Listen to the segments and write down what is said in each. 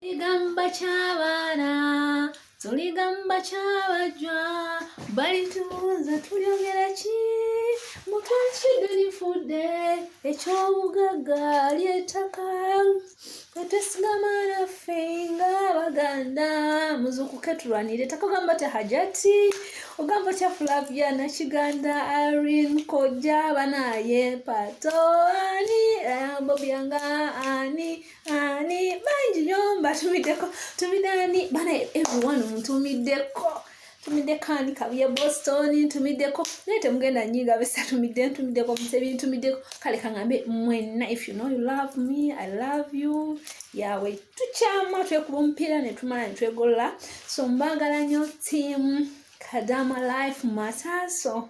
tuligamba kyabaana tuligamba kyabajwa balitubuuza tulyogera ki mutwakidde lifudde ekyobugagga lyetaka etesigama naffe nga baganda muzukuke tulwanire etaka ogamba ti hajati ogamba tya flavia nakiganda arin kojja banaye pato ani eh, bobyanga ani ani bangi nyo mbatumiddeko tumidde ani bana everyone ntumiddeko ntumiddeko ani kabuye boston ntumiddeko naye temugenda nyinga besa tumidde ntumiddeko musebi ntumiddeko kale kangambe mwenna if you know you love me i love you yawe tukyama twekuba omupiira netumala netwegolola so mbagala nyo tiamu kadama life matter so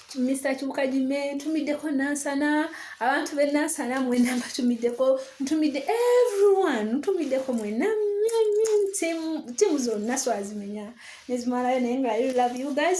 Mr Kibuka Jime ntumiddeko Nansana abantu be Nansana mwena mbatumiddeko ntumidde everyone ntumiddeko mwena tiimu zonna swazimenya nezimalayo naye nga I love you guys